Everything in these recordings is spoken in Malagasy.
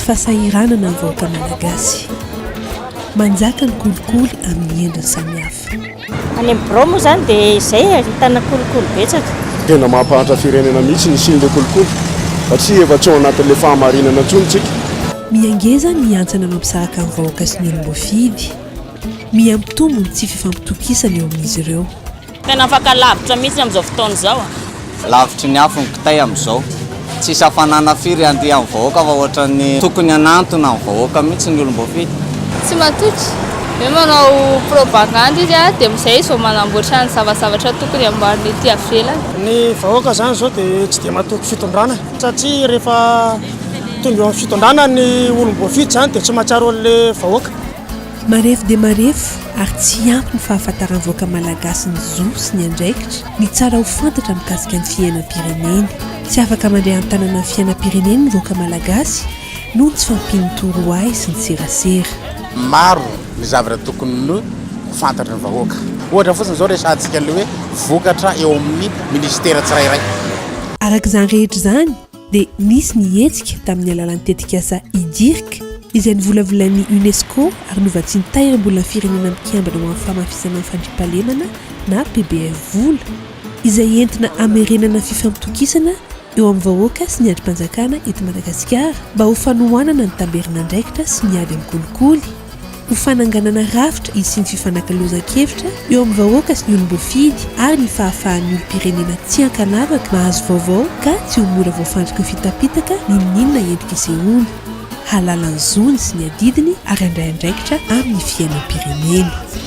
fahasahiranana ny vahoaka malagasy manjaka ny kolikoly amin'ny endriny samihafa Any amin'ny birao moa izany dia izay e, ahitana kolikoly betsaka. Tena mampahantra firenena mihitsy ny hisian'ilay kolikoly satria efa tsy ao anatin'ilay fahamarinana intsony isika. Miha ngeza ny hantsana mampizahaka ny vahoaka sy ny olom-boafidy. Miha mpitombo ny tsy fifampitokisana eo amin'izy ireo. Tena afaka lavitra mihitsy amin'izao fotoana izao. Lavitry ny afo ny kitay amin'izao. Tsisy hafanana firy handia amin'ny vahoaka fa ohatran'ny tokony hanantona ny vahoaka mihitsy ny olom-boafidy. Tsy matoky. Hoe manao propagandy izy dia amin'izay izy vao manamboatra ny zavazavatra tokony hamboarina ety avelany. Ny vahoaka izany izao dia tsy dia matoky fitondrana satria rehefa tonga eo amin'ny fitondrana ny olom-boafidy izany dia tsy mahatsiaro an'ilay vahoaka. Marefo dia marefo ary tsy ampy ny fahafantaran'ny vahoaka malagasy ny zo sy ny andraikitra Ny tsara ho fantatra mikasika ny fiainam-pireneny. Tsy afaka mandray an-tanana ny fiainam-pireneny ny vahoaka malagasy noho ny tsy fahampian'ny torohay sy ny serasera. Maro ny zavatra tokony ny ho fantatry ny vahoaka. Ohatra fotsiny izao resahantsika ny hoe vokatra eo amin'ny minisitera tsirairay. Araka izany rehetra izany, dia nisy ny hetsika tamin'ny alalan'ny tetikasa IDIRC, izay novolavolain'ny UNESCO ary novatsian'ny Tahirimbolan'ny Firenena Mikambana ho Amin'ny Fahamafisana ny Fandriampahalemana na PBF vola izay entina hamerenana fifampitokisana eo amin'ny vahoaka sy ny andrim-panjakana eto Madagasikara mba ho fanohanana ny tamberin'andraikitra sy ny ady amin'ny kolikoly. ho fananganana rafitra hisian'ny fifanakalozan-kevitra eo amin'ny vahoaka sy ny olom-boafidy ary ny fahafahan'ny olom-pirenena tsy ankanavaka mahazo vaovao ka tsy ho mora voafantoka fitapitaka n'inon'inona endrika isehoana, hahalala ny zony sy ny adidiny ary handray andraikitra amin'ny fiainam-pirenena.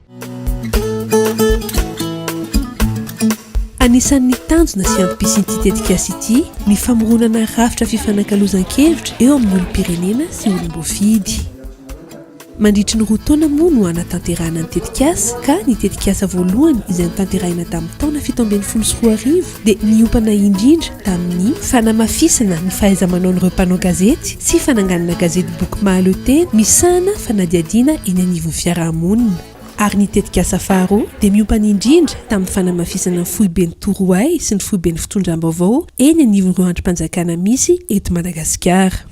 Anisan'ny tanjona sy antom-pisian'ity tetikasa ity ny famoronana rafitra fifanakalozan-kevitra eo amin'ny olom-pirenena sy olom-boafidy. Mandritry ny roa taona moa no hanatanterahana ny tetikasa ka ny tetikasa voalohany izay notanterahina tamin'ny taona fito ambin'ny folo sy roa arivo dia niompana indrindra tamin'ny fanamafisana ny fahaiza-manaon'ireo mpanao gazety sy fananganana gazetiboky mahaleotena misahana fanadihadiana eny anivon'ny fiarahamonina. Ary ny tetikasa faharoa dia miompana indrindra tamin'ny fanamafisana ny foiben'ny torohay sy ny foiben'ny fitondram-baovao eny anivon'ireo andrim-panjakana misy eto Madagasikara.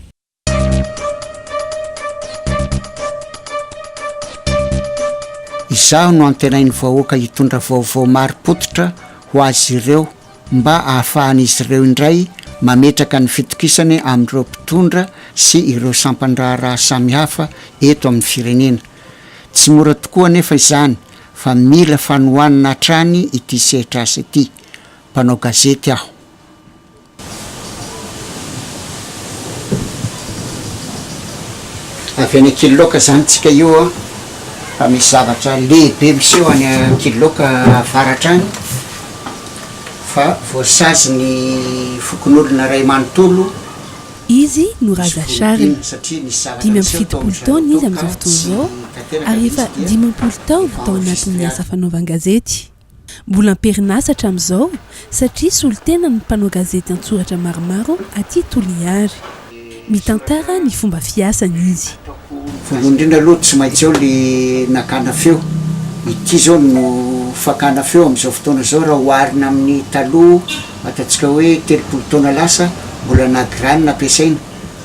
Izaho no antenain'ny vahoaka hitondra vaovao marim-pototra ho azy ireo mba ahafahan'izy ireo indray mametraka ny fitokisany amin'ireo mpitondra sy ireo sampan-draharaha samihafa eto amin'ny firenena. Tsy mora tokoa anefa izany fa mila fanohanana hatrany ity sehatr'asa ity. Mpanao gazety aho. Avy any Ankiloka zany tsika io an! Fa misy zavatra lehibe miseho any Ankiloka avaratra any fa voasazy ny fokonolona ray manontolo Izy no Raza Shari. Dimy amby fitopolo taona izy amin'izao fotoana izao ary efa dimampolo taona tao anatin'ny asa fanaovan-gazety. Mbola am-perinasa hatramin'izao satria solontenan'ny mpanao gazety an-tsoratra maromaro aty Toliary. Mitantara ny fomba fiasany izy. Voalohany indrindra aloha tsy maintsy ao ilay nakana feo. Ity izao no fakana feo amin'izao fotoana izao raha oharina amin'ny taloha, ataontsika hoe telopolo taona lasa, mbola na graine ampiasaina.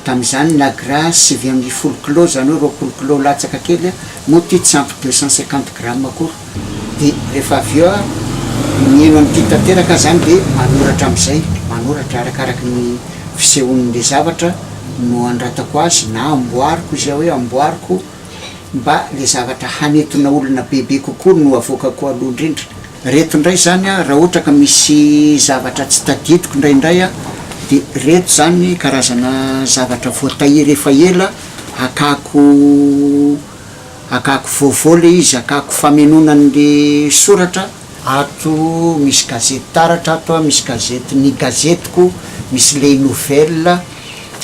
Tamin'izany Nagra sivy ambin'ny folo kilao izany hoe roapolo kilao latsaka kely a, moa ity tsy ampy deux cent cinquante grammes akory. Dia rehefa avy eo aho mihaino an'ity tanteraka izany dia manoratra amin'izay, manoratra arakaraky ny fisehon'ilay zavatra no anoratako azy na amboariko izay hoe amboariko. mba le zavatra hanintona olona bebe kokoa no avoakako aloha indrindra. Reto indray zany a, raha ohatra ka misy zavatra tsy tadidiko indraindray a, de reto zany karazana zavatra voatahiry efa ela, akako akako vaovao le izy, akako famenoana an'le soratra, Ato misy gazety taratra ato a, misy gazety ny gazetiko, misy les nouvelles,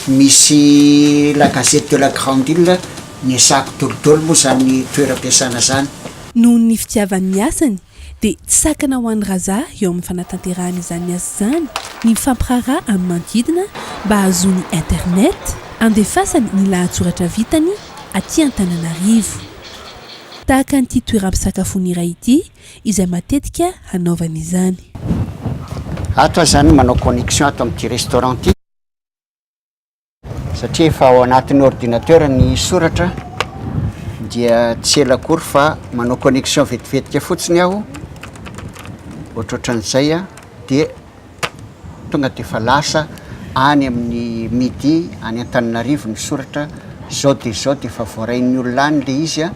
misy la gazette de la grande ile, ny asako dolo dolo moa zany toeram-piasana zany. Noho ny fitiavany ny asany dia tsy sakana ho an'i Raza eo amin'ny fanatanterahana izany asa izany ny mifampiraharaha amin'ny manodidina mba hahazoany internet handefasany ny lahatsoratra vitany aty Antananarivo. tahaka an'ity toeram-pisakafoana iray ity izay matetika hanaovany izany. Ato aho izany manao connexion ato amin'ity restaurant ity satria efa ao anatin'ny ordinateur ny soratra dia tsy ela akory fa manao connexion vetivetika fotsiny aho, ohatrohatran'izay dia Tonga dia efa lasa any amin'ny midi any Antananarivo ny soratra. Izao dia izao dia efa voarain'ny olona any ilay izy.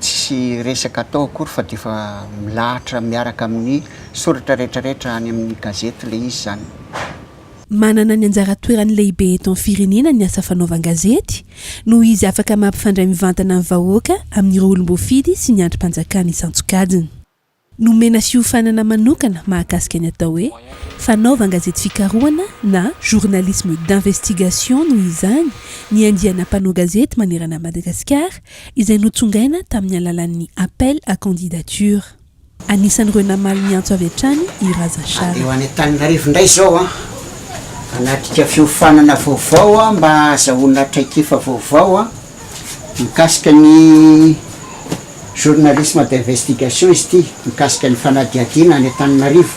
Tsisy resaka atao akory fa dia efa milahatra miaraka amin'ny soratra rehetrarehetra any amin'ny gazety ilay izy izany. Manana ny anjara toerany lehibe eto amin'ny firenena ny asa fanaovan-gazety, noho izy afaka mampifandray mivantana ny vahoaka amin'ireo olom-boafidy sy ny andrim-panjakana isan-tsokajiny. Nomena fiofanana manokana mahakasika ny atao hoe fanaovan-gazety fikarohana na journalisme d'investigation noho izany ny andiana mpanao gazety manerana an'i Madagasikara izay notsongaina tamin'ny alalan'ny appel à candidature. Anisan'ireo namaly ny antso avy hatrany i Raza Charles. Handeha ho any Antananarivo indray izao aho hanatrika fiofanana vaovao mba hahazahoana traikefa vaovao. Mikasika ny journalisme d'investigation izy ity, mikasika ny fanadihadiana any Antananarivo.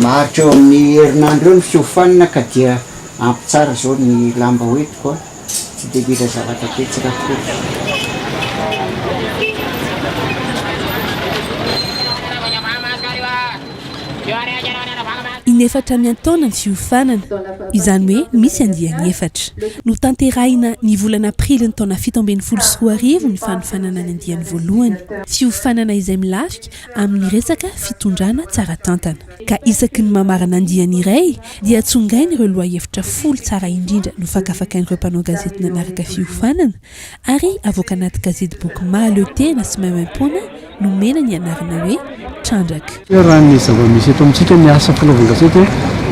Maharitra eo amin'ny herinandro eo ny fiofanana ka dia ampy tsara izao ny lamba ho entiko a! Tsy dia mila zavatra be tsy rakory. Inefatra miantaona ny fiofanana, izany hoe misy andiany efatra. Notanterahina ny volana Aprily ny taona fito ambin'ny folo sy roa arivo ny fanofanana ny andiany voalohany, fiofanana izay milafika amin'ny resaka fitondrana tsara tantana. Ka isaky ny mamarana andiany iray dia tsongaina ireo lohahevitra folo tsara indrindra nofakafakain'ireo mpanao gazety nanaraka fiofanana, Ary avoaka anaty gazetiboky mahaleo tena sy maimaimpoana nomena ny anarana hoe Trandraka. Raha ny zava-misy eto amintsika ny asa filalaovan-gazety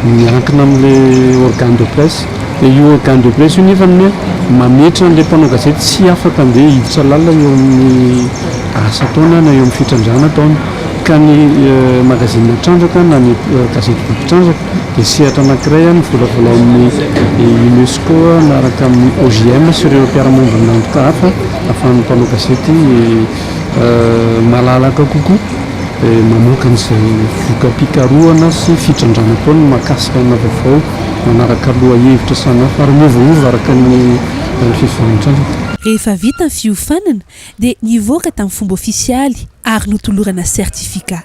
miankina amin'ilay organe de presse. Dia io organe de presse io nefany mametra an'ilay mpanao gazety tsy afaka handeha hiditra lalina eo amin'ny asa ataony na eo amin'ny fitrandrahana ataony. Ka ny magazine Trandraka na ny gazetiboky Trandraka. Dia sehatra anankiray ny volavolain'ny UNESCO miaraka amin'ny OJM sy ireo mpiara-miombon'antoka hafa ahafahan'ny mpanao gazety malalaka kokoa mamoaka an'izay voka-pikarohana sy fitrandrahana ataony mahakasika ana vaovao manaraka lohahevitra samihafa ary miovaova araka ny fivantrana. Rehefa vita ny fiofanana dia nivoaka tamin'ny fomba ofisialy ary notolorana certificat.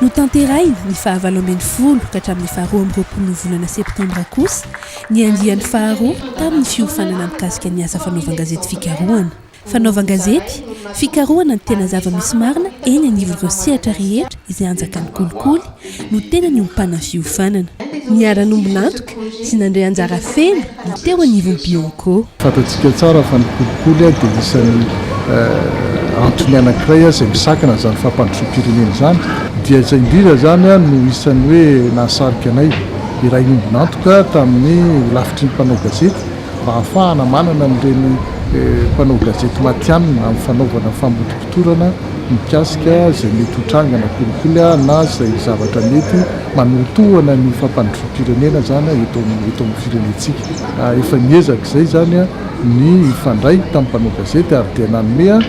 Notanterahina ny fahavalo ambin'ny folo ka hatramin'ny faharoa amby roapolon'ny volana septambra kosa ny andiany faharoa tamin'ny fiofanana mikasika ny asa fanaovan-gazety fikarohana. Fanaovan-gazety fikarohana ny tena zava-misy marina eny anivon'ireo sehatra rehetra izay anjakan'ny kolikoly no tena niompana ny fiofanana. Niara-nombon'antoka sy nandray anjara feno ny teo anivon'ny Biomco. Fantatsika tsara fa ny kolikoly dia isan'ny antony anankiray izay misakana izany fampandrosoam-pirenena izany. Dia izay indrindra izany no isan'ny hoe nahasarika anay iray ombon'antoka tamin'ny holafitry ny mpanao gazety mba hahafahana manana an'ireny mpanao gazety matihanina amin'ny fanaovana famotopotorana mikasika izay mety ho tranga na kolikoly na izay zavatra mety manolotohana ny fampandrosoam-pirenena izany eto amin'ny eto amin'ny firenentsika. Efa niezaka izay izany ny hifandray tamin'ny mpanao gazety ary dia nanome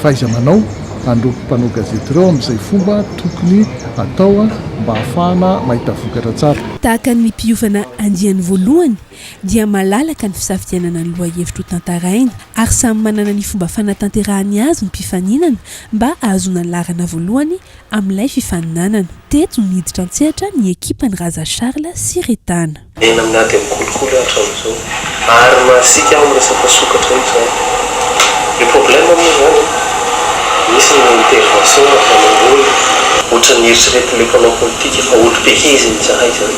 fahaiza-manao an'ireo mpanao gazety ireo amin'izay fomba tokony atao mba hahafahana mahita vokatra tsara. Tahaka ny mpiofana andiany voalohany dia malalaka ny fisafidianana ny lohahevitra ho tantaraina ary samy manana ny fomba fanatanterahany azy ny mpifaninana mba ahazoana ny laharana voalohany amin'ilay fifaninanana. Teto niditra an-tsehatra ny ekipan'i Raza Charles sy Retana. Enina amin'ny ady amin'ny kolikoly aho hatramin'izao ary masiaka amin'ny resaka sokatra io izany. Ny problème moa izany an, misy ny intervention ataonao olona. Ohatran'ny eritreretin'ilay mpanao politika fa olo-be izy mizaha izany.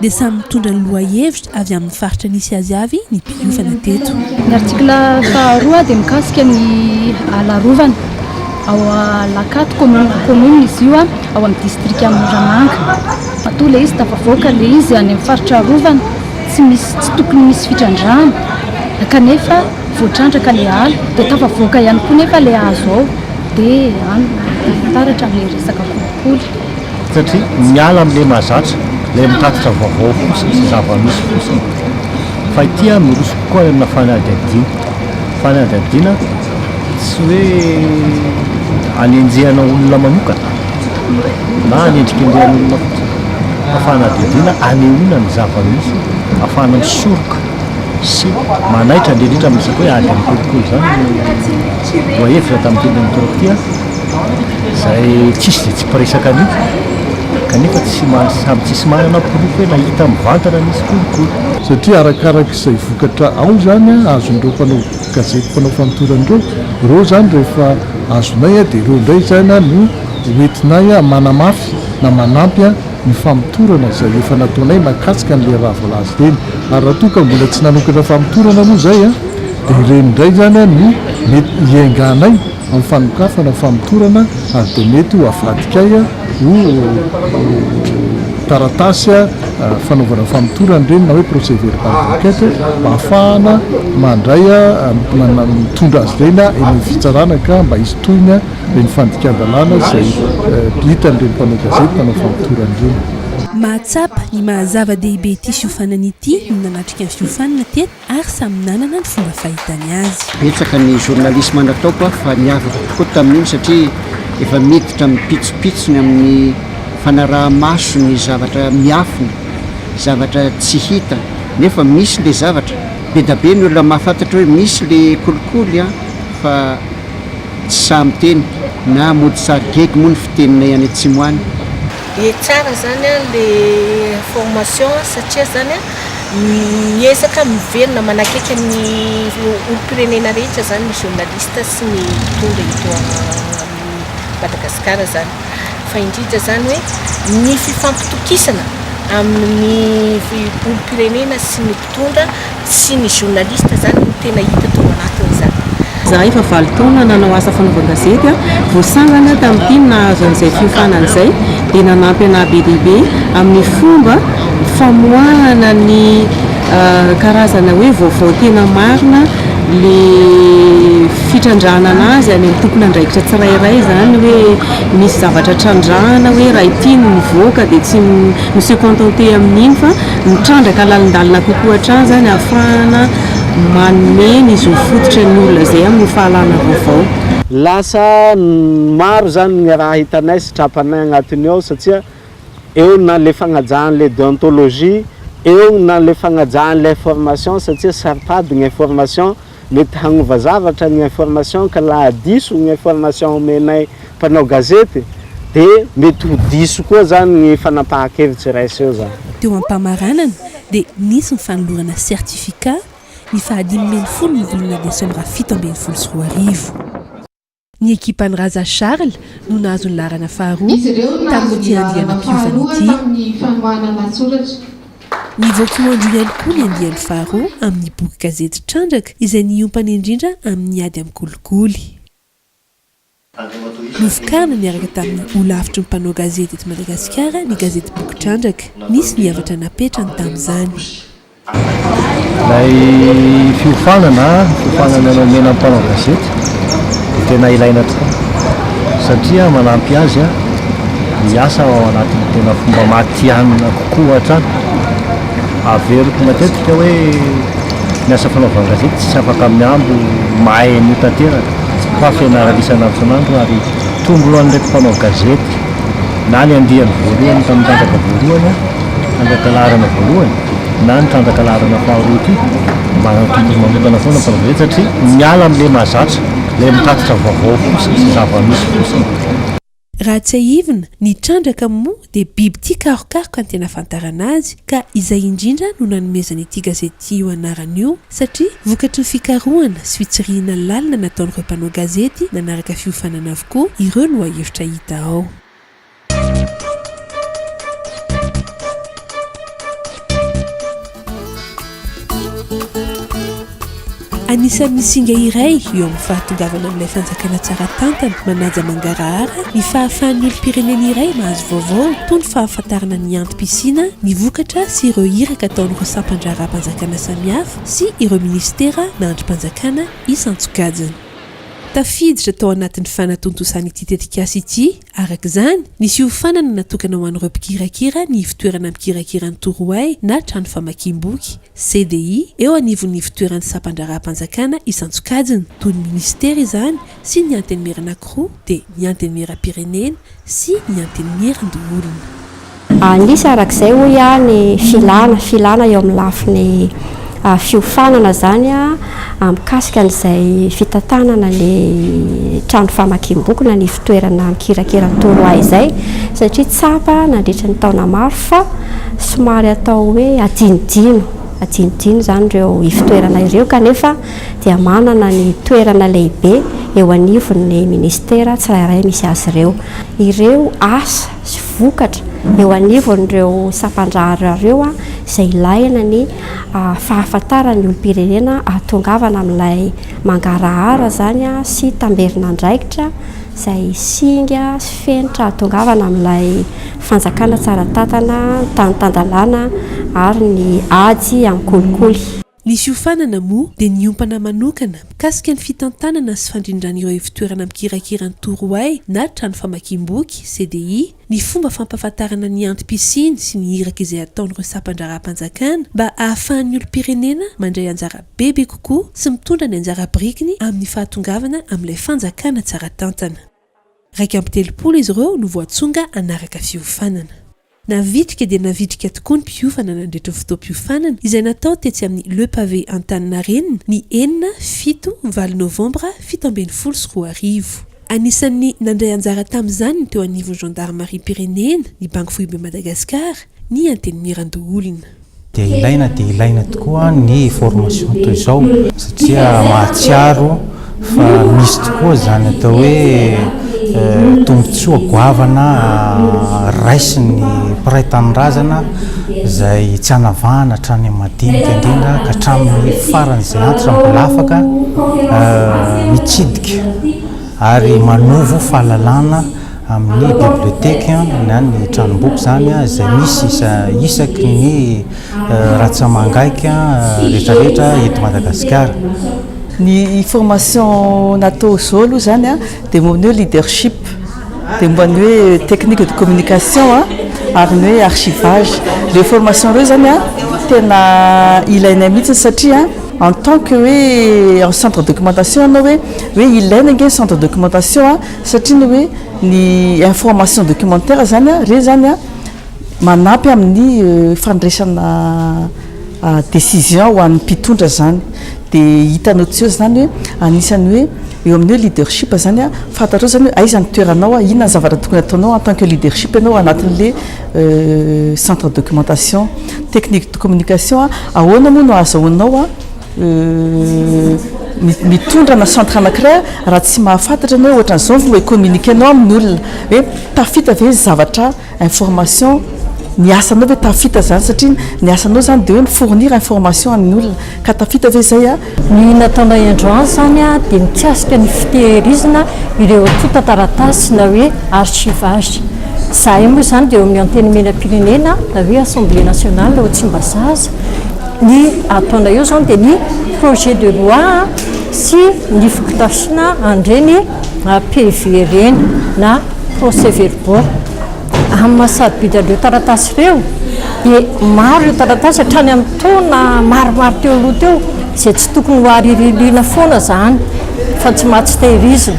dia samy mitondra ny lohahevitra avy amin'ny faritra nisy azy avy ny mpiofana teto. Ny artikla faharoa dia mikasika ny ala arovana ao Alakato, commune, commune izy io ao amin'ny distrika Moramanga. Matoa ilay izy tafavoaka ilay izy any amin'ny faritra arovana tsy misy, tsy tokony misy fitrandrahana kanefa voatrandraka ilay ala dia tafavoaka ihany koa nefa ilay hazo ao dia any no taratra ilay resaka kolikoly. satria miala amin'ilay mahazatra, ilay mitatitra vaovao fotsiny sy zava-misy fotsiny, fa ity an, miroso kokoa any amina fanadihadiana, fanadihadiana tsy hoe anenjehana olona manokana na anendrikendrehana olona fotsiny, fa fanadihadiana anehoana ny zava-misy ahafahana misoroka sy manaitra indrindra indrindra amin'ny resaka hoe ady amin'ny kolikoly izany no voahevitra tamin'ity Ben'ny Toraka ity an. izay tsisy dia tsy mpiresaka an'io kanefa tsy maha samy tsisy manana porofo hoe nahita mivantana nisy kolikoly. Satria arakaraka izay vokatra ao izany an, azon'ireo mpanao gazety mpanao famotorana ireo, ireo izany rehefa azonay dia ireo indray izany an no ho entinay manamafy na manampy an ny famotorana izay efa nataonay mahakasika an'ilay raha voalaza ireny, ary raha toa ka mbola tsy nanokatra famotorana moa izay an dia ireny indray izany an no mety hiainganay. amin'ny fanokafana, famotorana ary dia mety ho avadikay ho taratasy fanaovana famotorana ireny na hoe procès verbal d'enquête mba hahafahana mandray, mitondra azy ireny eny amin'ny fitsarana ka mba hisy tohiny ireny fandikan-dalàna izay hitan'ireny mpanao gazety, mpanao famotorana ireny. Mahatsapa ny maha-zava-dehibe ity fiofanana ity ny nanatrika ny fiofanana teto ary samy nanana ny fomba fahitany azy. Betsaka ny journaliste manatao koa fa niavaka tokoa tamin'iny satria efa miditra amim-pitsopitsony amin'ny fanaraha-maso ny zavatra miafina, zavatra tsy hita nefa misy le zavatra, bedabe ny olona mahafantatra hoe misy le kolikoly an, fa tsy sahy miteny na mody sary gegy moa ny fiteninay any atsimo any. Dia tsara zany an le formation satria zany an miezaka miverina manakaiky ny olompirenena rehetra zany ny journaliste sy ny mpitondra eto amin'ny Madagascar zany fa indrindra zany hoe ny fifampitokisana amin'ny olompirenena sy ny Mitondra sy ny journaliste zany no tena hita tao anatiny zany. Zahay efa valo taona nanao asa fanaovan-gazety aho, vao sangany aho tamin'ity no nahazo an'izay fiofanana izay dia nanampy anah be dia be amin'ny fomba famoahana ny karazana hoe vaovao tena marina le fitrandrahanana azy any amin'ny tompon'andraikitra tsirairay izany hoe misy zavatra trandrahana hoe raha ity no mivoaka dia tsy mi-se contenter amin'iny fa Mitrandraka lalindalina kokoa hatrany izany ahafahana manome ny zo fototra ny olona izay amin'ny fahalana vaovao. Lasa maro izany ny raha hitanay sy trapanay agnatiny ao satsia eo na le fagnajahan'le deontologie, eo na le fagnajahan'le information satsia saro-pady ny information. Mety hanova zavatra ny information ka laha diso ny information omenay mpanao gazety de mety ho diso koa zany ny fanapahan-kevitry iray seho zany. Teo am-pamaranana dia nisy ny fanolorana certificat ny faha dimy ambin'ny folo ny volana desambra fito ambin'ny folo sy roa arivo. Ny ekipan'i Raza Charles no nahazo ny laharana faharoa tamin'ity andiam-piovana ity. Nivoaka ho andro ihany koa ny andiany faharoa amin'ny boky gazety Trandraka izay niompana indrindra amin'ny ady amin'ny kolikoly. Novokarina niaraka tamin'ny Holafitry ny mpanao gazety eto Madagasikara ny gazetiboky Trandraka. Nisy ny havatra napetrany tamin'izany. Ilay fiofanana, fiofanana nomena ny mpanao gazety dia tena ilaina tokoa satria manampy azy hiasa ao anatin'ny tena fomba matihanina kokoa hatrany. Averiko matetika hoe ny asa fanaovan-gazety tsy afaka mihambo mahay an'io tanteraka fa fianarana isan'androsan'andro ary tombony ho an'ireto mpanao gazety na ny andiany voalohany tamin'ny Trandraka voalohany, Trandraka laharana voalohany, na ny trandraka laharana faharoa ity mba ny tontolo manokana foana fa very satria miala amin'ilay mahazatra, ilay mitatitra vaovao fotsiny sy zava-misy fotsiny. Raha tsiahivina, ny trandraka moa dia biby tia karokaroka ny tena ahafantarana azy ka izay indrindra no nanomezana ity gazety ity io anarana io satria vokatry ny fikarohana sy fitsirihina lalina nataon'ireo mpanao gazety nanaraka fiofanana avokoa ireo lohahevitra hita ao. Anisan'ny singa iray eo amin'ny fahatongavana amin'ilay fanjakana tsara tantana manaja mangarahara ny fahafahan'ny olom-pirenena iray mahazo vaovao toa ny fahafantarana ny antom-pisiana, ny vokatra sy ireo iraka ataon'ireo sampan-draharaham-panjakana samihafa sy ireo minisitera na andrim-panjakana isan-tsokajiny. Tafiditra tao anatin'ny fanatontosan'ity tetikasa ity Araka izany, nisy hiofanana natokana ho an'ireo mpikirakira ny Ivotoerana Mikirakira ny Torohay na Trano Famakiam-boky, CDI, eo anivon'ny Ivotoeran'ny Sampandraharaham-panjakana isan-tsokajiny, toy ny Minisitera izany, sy ny Antenimieran'Ankoroa dia ny Antenimieram-pirenena sy ny Antenimieran-doholona. Anisy araka izay hoy aho ny filana, filana eo amin'ny lafiny fiofanana izany mikasika an'izay fitantanana ny trano famakiam-boky na ny fitoerana mikirakira ny torohay izay satria tsapa nandritra ny taona maro fa somary atao hoe adinodino, adinodino izany ireo ifotoerana ireo kanefa dia manana ny toerana lehibe eo anivon'ny minisitera tsirairay misy azy ireo. Ireo asa. sy vokatra eo anivon'ireo sampan-drahareo izay ilàna ny fahafantaran'ny olom-pirenena hahatongavana amin'ilay mangarahara izany sy tamberin'andraikitra izay singa sy fenitra hahatongavana amin'ilay fanjakana tsara tantana, tany tan-dalàna ary ny ady amin'ny kolikoly. Ny fiofanana moa dia niompana manokana mikasika ny fitantanana sy fandrindran'ireo ivotoerana mikirakira ny Torohay na trano famakiam-boky, CDI, ny fomba fampahafantarana ny antom-pisiany sy ny iraka izay ataon'ireo sampan-draharaham-panjakana mba ahafahan'ny olom-pirenena mandray anjara bebe kokoa sy mitondra ny anjara birikiny amin'ny fahatongavana amin'ilay fanjakana tsara tantana. Iraika amby telopolo izy ireo no voatsonga hanaraka fiofanana. Navitrika dia navitrika tokoa ny mpiofana nandritra io fotoam-piofanana izay natao tetsy amin'ny Le Pavé Antaninarenina ny enina, fito, valo novambra fito ambin'ny folo sy roa arivo. Anisan'ny nandray anjara tamin'izany ny teo anivon'ny Gendarmariam-pirenena, ny Banky Foiben'i Madagasikara, ny Antenimierandoholona. dia ilaina dia ilaina tokoa ny formation toy izao satria mahatsiaro fa misy tokoa izany atao hoe tombontsoa goavana raisin'ny mpiray tanindrazana izay tsy anavahana hatrany amin'ny madinika indrindra ka hatramin'ny faran'izay antitra mbola afaka mitsidika ary manovo fahalalana amin'ny biblioteca na ny tranomboky izany izay misy isaky ny ratsamangaika rehetrarehetra eto Madagasikara. Ny formation natao izao aloha izany dia momba ny hoe leadership, dia momba ny hoe technique de communication ary ny hoe archivage. Ireo formation ireo izany tena ilainay mihitsy satria en tant que hoe en centre de documentation ianao hoe hoe ilaina ange ny centre de documentation. Satria ny hoe ny information documentaire zany a, reny zany a manampy amin'ny fandraisana decision ho an'ny mpitondra zany. Dia hitanao tsy eo zany hoe anisan'ny hoe eo amin'ny hoe leadership zany a, fantatrao zany hoe aiza ny toeranao, inona ny zavatra tokony ataonao en tant que leadership ianao ao anatin'le centre documentation. Technique de communication, ahoana moa no ahazahoanao. Uhm mitondra ana centre anakiray raha tsy mahafantatra enao ohatran zao no communique nao aminy olona hoe tafita ve ny zavatra information ny asanao ve tafita zany satria ny asanao zany de hoe mi fournir information aminy olona ka tafita ve zay a. Ny nataonay androany zany a de mikasika ny fitehirizana ireo tonta taratasy na hoe archivage zahay moa zany de eo amin'ny antenimierampirenena na hoe assemblée nationale ao tsimbazaza, Ny ataonay eo izany dia ny projet de loi sy ny fotodrafiana an'ireny PV ireny na procès verbaux. Amin'ny maha sarobidy an'ireo taratasy ireo dia maro ireo taratasy hatrany amin'ny taona maromaro teo aloha teo izay tsy tokony ho aririliana foana izany fa tsy maha tsy tehirizina.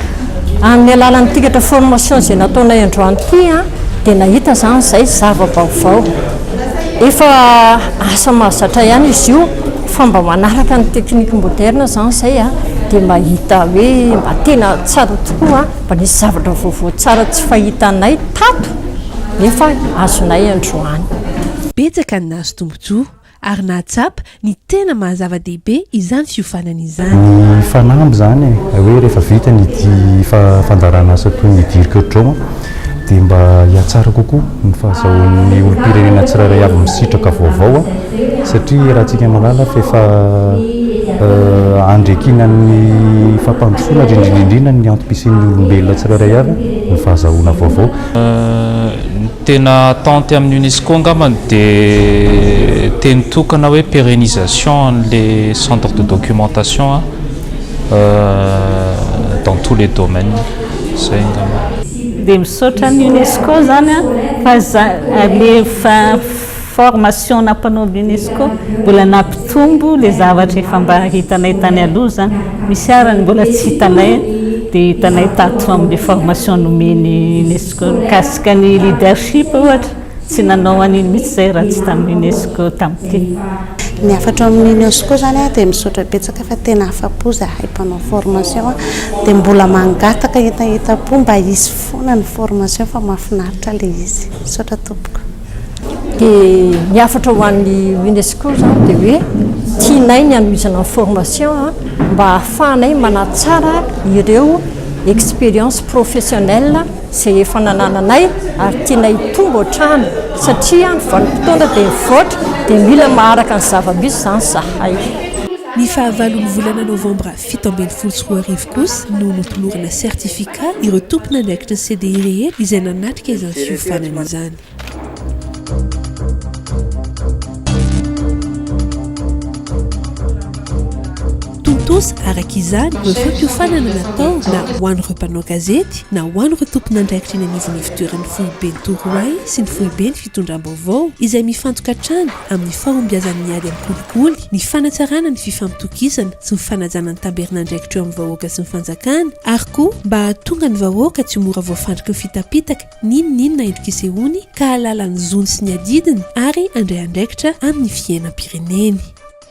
Amin'ny alalan'ny tikatra formation izay nataonay androany ity dia nahita izany izay zava-baovao. Efa asa mahazatra ihany izy io fa mba manaraka ny technique moderne izany izay dia mba hita hoe mba tena tsara tokoa, mba nisy zavatra vaovao tsara tsy fahitanay tato nefa azonay androany. Betsaka ny nahazo tombontsoa ary nahatsapa Ny tena maha zava-dehibe izany fiofanana izany. Ny fanamby izany e, izay hoe rehefa vita ny fandaharana asa toy ny Dirk Dron dia mba hihatsara kokoa ny fahazahoan'ny olom-pirenena tsirairay avy ny sitraka vaovao satria raha tsika mahalala fa efa andriakinan'ny fampandrosoana ary indrindra indrindra ny antom-pisian'ny olombelona tsirairay avy ny fahazahoana vaovao. Tena attente amin'ny UNESCO angambany dia teny tokana hoe pérénisation an'ilay centre de documentation dans tous les domaines. Izay angamba. Dia misaotra an'i UNESCO izany an fa za alefa. Formation nampanaovy Unesco mbola nampitombo le zavatra efa mba hitanay tany aloha zany, misy ara ny mbola tsy hitanay de hitanay tato amle formation nomeny Unesco mikasika ny leadership ohatra tsy nanao an'iny mitsy zay raha tsy tam Unesco tam ty. Ny hafatro amin'ny Unesco zany a dia misaotra betsaka fa tena afapo zahay mpanao formation a dia mbola mangataka entaentam-po mba hisy foana ny formation fa mahafinaritra ilay izy. Misaotra tompoko. Dia ny hafatra ho an'ny UNESCO izany dia hoe tianay ny hanohizana ny formation mba hahafahanay manatsara ireo expériences professionnelles izay efa nanananay ary tianay hitombo hatrany satria ny vanim-potoana dia mivoatra dia mila maharaka ny zava-misy izany izahay. Ny fahavalon'ny volana novambra Fito ambin'ny folo sy roa arivo kosa no notolorana certificat ireo tompon'andraikitry ny CDI rehetra izay nanatrika izany fiofanana izany. Tontosa araka izany ireo fampiofanana natao na ho an'ireo mpanao gazety na ho an'ireo tompon'andraikitra eny anivon'ny ivotoeran'ny foiben'ny Torohay sy ny foiben'ny fitondram-baovao izay mifantoka hatrany amin'ny fahombiazan'ny ady amin'ny kolikoly, ny fanatsarana ny fifampitokisana sy ny fanajana ny tamberin'andraikitra eo amin'ny vahoaka sy ny fanjakana, ary koa mba hahatonga ny vahoaka tsy ho mora voafandriky ny fitapitaka n'inn n'inona endrik'isehoany ka hahalala ny zony sy ny adidiny ary handray andraikitra amin'ny fiainam-pireneny.